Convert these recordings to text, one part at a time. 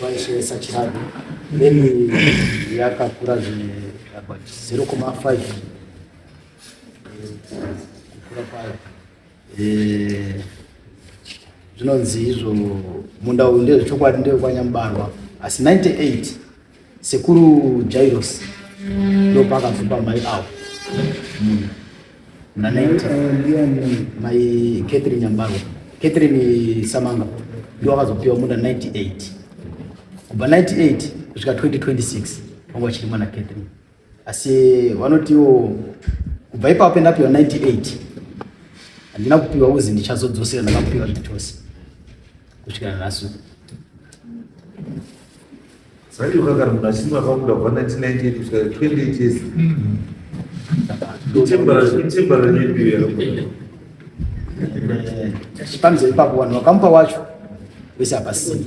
vaisevesa chirado then yakakura zvine about 0,5 kukura kwayo Eh, zvinonzi izvo munda uyu ndezvechokwadi ndewekwanyamubarwa asi 98 sekuru jairos ndopakabva mai avo hmm. muna 90 mai catherine nyambarwa catherine samanga ndo akazopiwa munda 98 kubva 98 kusvika 2026 wanga chiri mwana catherine Asi vanotiwo kubva ipapo pendapiwa 98 handina kupiwa uzi ndichazodzosera ndakakupiwa zvitose kusvikira nhasi sati ukagara munhu achinzi akabuda kubva 1998 kusvika 28 years pamzeri papo vanhu vakamupa wacho wese hapasii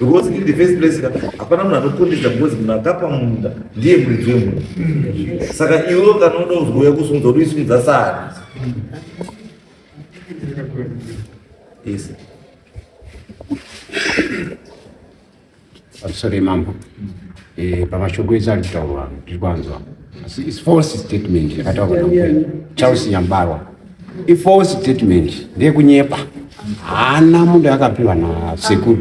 because in the first place hapana munhu anokondedza because munhu akapa munda ndiye muridzi wemunda saka iwe kana unoda kuzouya kusimudza kuti uisimudza sani yes sorry mambo Eh, pamashoko ese ari kutaurwa ano tiri kwanzwa asi is false statement yakataurwa namukwena charles nyambarwa ifalse statement ndeyekunyepa haana munhu akapiwa nasekuru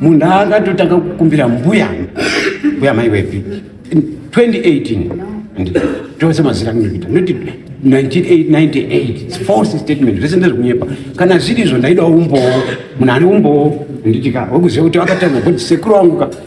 munhu akatotanga kukumbira mbuya mbuya mai wepi 2018 tose mazira kuita noti 1998 false statement zvese ndezvekunyepa kana zviri izvo ndaidawo umbowo munhu ane umbowo nditika wekuziva kuti vakatanga kuti sekuru wangu ka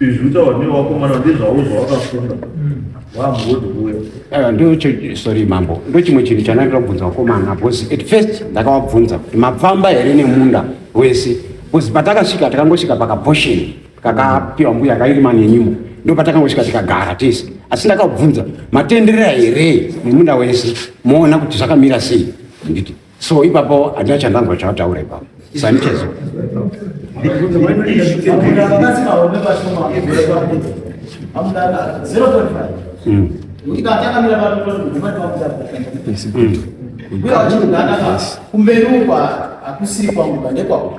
izvi utaura newakomana ndezvavo zvawakafunga wamhodhuwe ah, ndocho sorry mambo ndochimwe chinhu chandaida kubvunza wakomana because at first ndakawabvunza kuti mapfamba here nemunda wese because patakasvika takangosvika pakabhosheni kakapiwa mbuya kairima nenyimo ndo patakangosvika tikagara tese asi ndakabvunza matenderera here nemunda wese moona kuti zvakamira sei handiti So ipapo handina chandanzwa chawataura ipapo Sanchez. kumberi uko hakusiri kwangu ndekwangu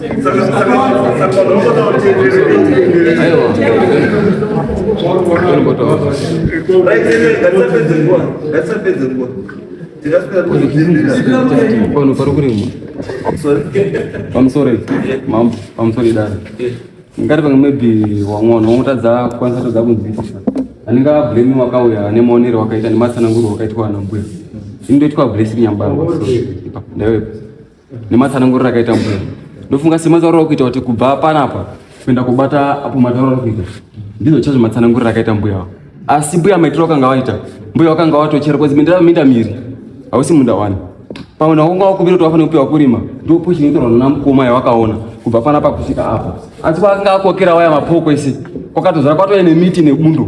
Pano pari kurima pamusori mambo pamusori dara ngati pamwe maybe wamwana wamutadza kukwanisa tadza kunzwisisa anenge ablame wakauya nemaonero wakaita nematsananguro wakaitwa ana mbuya inotoitwa blessing yambangwa so ndaiwepo nematsananguriro akaita mbuya ndofunga sematauro ari kuita kuti kubva panapa kuenda kubata apo matauro ari kuita ndizvo chazvo matsananguriro akaita mbuya awo asi mbuya maitiro akanga waita mbuya wakanga watochera kozi mindava minda miri hausi munda wani pamwe nakunga wakuvira kuti wafanira kupiwa kurima ndo pushi inoitirwa nana mukoma yawakaona kubva panapa kusvika apa asi kwakanga akokera waya mapoko ese kwakatozara kwatove nemiti nebundo